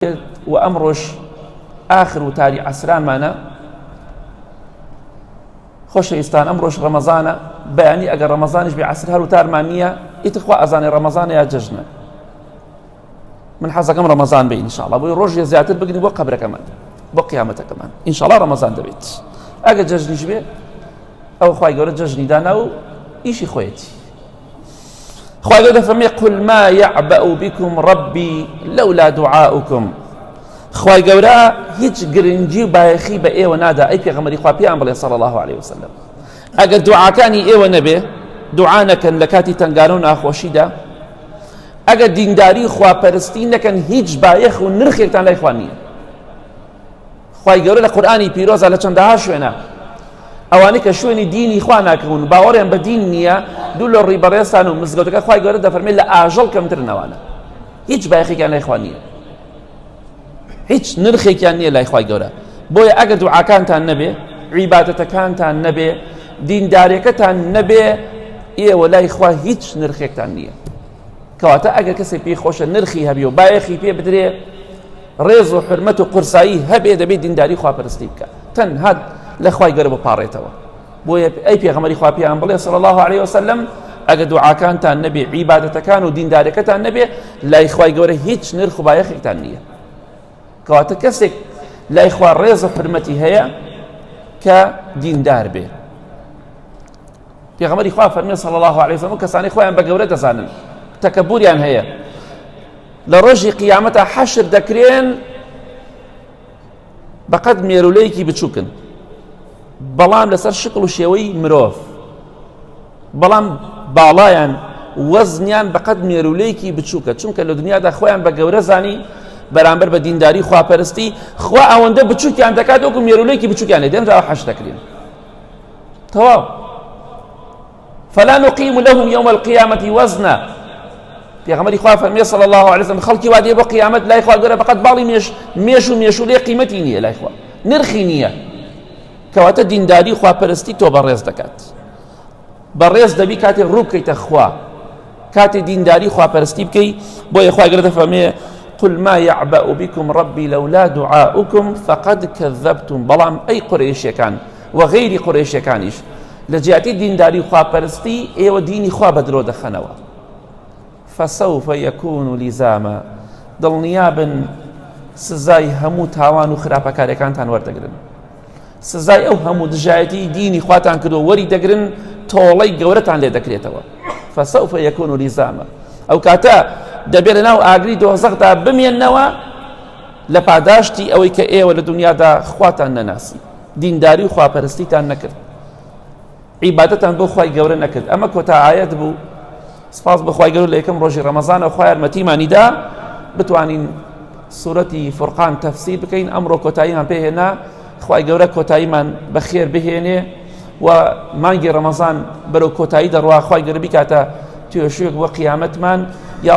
و ئەمڕۆش ئاخر وتاری عەسرانمانە خۆشەویستان ئەمڕۆژ ڕەمەزانە بەیانی ئەگەر ڕەمەزانش بێ عسر هەر وتارمان نییە ئیتخوا ئەزانێ ڕەمەزانە یا جژنە من حەزەکەم ڕەمەزان بە ئینشاڵە بۆی ڕۆژێ زیاتر بگری بۆ قبرەکەمان بۆ قیامەتەکەمان ئینشاڵا ڕەمەزان دەبێت ئەگە جژنیش بێ ئەو خی گەورە جژنی دانا و ئیشی خۆیەتی خوای گەورە فەرمی قل ما یعبأ بكم ربی لولا دعاؤکم خوای گەورە هیچ گرنگی و بایەخی بە ئێوە نادا ئەی پێغەمەری خوا پێیان بڵێ صلی الله عليه وسلم ئەگەر دوعاکانی ئێوە نەبێ دوعا نەکەن لە کاتی تەنگانە و ناخۆشیدا ئەگەر دینداری خواپەرستی نەکەن هیچ بایەخ و نرخێکتان لای خوا نییە خوای گەورە لە قورئانی پیرۆزە لە چەندەها شوێنە ئەوانەی کە شوێنی دینی خوا ناکەون و باوەڕیان بە دین نییە دوو لە ڕووی بەڕێزتان و مزگەوتەکە خوای گەورە دەفەرمێت لە ئاژەڵ کەمتر نەوانە هیچ بایەخێکیان لای خوا نییە هیچ نرخێکیان نییە لای خوای گەورە بۆیە ئەگەر دوعاکانتان نەبێ عیباتەتەکانتان نەبێ دیندارەکەتان نەبێ ئێوە لای خوا هیچ نرخێکتان نییە کەواتە ئەگەر کەسێک پێی خۆشە نرخی هەبێ و بایەخی پێ بدرێ ڕێز و حرمەت و قورسایی هەبێ دەبێت دینداری خواپەرستی بکە تەنها لە خوای گەرە بپارێتەوە بۆیە ئەی پێغەمەری خوا پێیان بڵێ سەڵ الله عليه وسلم ئەگە دوعاکانتان نەبێ عیباەتەکان و دیندارەکەتان نەبێ لای خوای گەورە هیچ نرخ و بایەخێکتان نییە کەواتە کەسێک لای خوا ڕێز و حرمەتی هەیە کە دیندار بێ پێغەمبەری خوا فەرمی صلی الله علیه وسلم کەسانی خۆیان بە گەورە دەزانن تەکەبوریان هەیە لە ڕۆژی قیامەتە حەشر دەکرێن بەقەت مێرولەیەکی بچووکن بەڵام لەسەر شکل و شێوەی مرۆڤ بەڵام باڵایان وەزنیان بەقەت مێرولەیەکی بچووکە چونکە لە دنیادا خۆیان بە گەورە زانی بەرامبەر بە دینداری خواپەرستی خوا ئەوەندە بچووکیان دەکات وەکو مێرولەیەکی بچووکیان لێ دێنراوە حەش دەکرێن تەواو فلا نقیم لهم یوم القیامة وزنا پێغمەری خوا فەرمیێ صلی الله عليه وسلم خەڵکی وادێ بۆ قیامەت لای خوا گەرە بەقەت باڵی مێش مێش و مێش و لێ قیمەتی نییە لای خوا نرخی نییە کەواتە دینداری خواپەرستی تۆ بەڕێز دەکات بەڕێز دەبی کاتێ ڕوو بکەیتە خوا کاتێ دینداری خواپەرستی بکەی بۆیە خوای گەورە دەفەرمێ قل ما يعبأ بكم ربي لولا دعاؤكم فقد كذبتم بەڵام ئەی قورێشەکان و غەیری قورێشەکانیش لە جیاتی دینداری و خواپەرستی ئێوە دینی خوا بە درۆ دەخەنەوە فسوف يكون لزاما دڵنیابن سزای هەموو تاوان و خراپەکارەکانتان وەردەگرن سزای ئەو هەموو دژایەتی دینی خواتان کردو وەری دەگرن تۆڵەی گەورەتان لێ دەکرێتەوە فسەوف یەکون و لیزامە ئەو کاتە دەبێت لە ناو ئاگری دۆزەخدا بمێنەوە لە پاداشتی ئەوەی کە ئێوە لە دنیادا خواتان نەناسی دینداری و خواپەرستیتان نەکرد عیبادەتان بۆ خوای گەورە نەکرد ئەمە کۆتا ئاەت بوو سپاس بەخوای گەور لە یەکەم ڕۆژی ڕەمەزانە خخوای یارمەتیمانیدا بتوانین سوورەتی فورقان تەفسی بکەین ئەمڕۆ کۆتاییان پێهێنا خی گەورە کۆتاییمان بەخێر بهێنێ و مانگی ڕەمەزان بەرەو کۆتایی دەڕواخوای گەربی کاتە توێشوێک بۆ قیامەتمان یا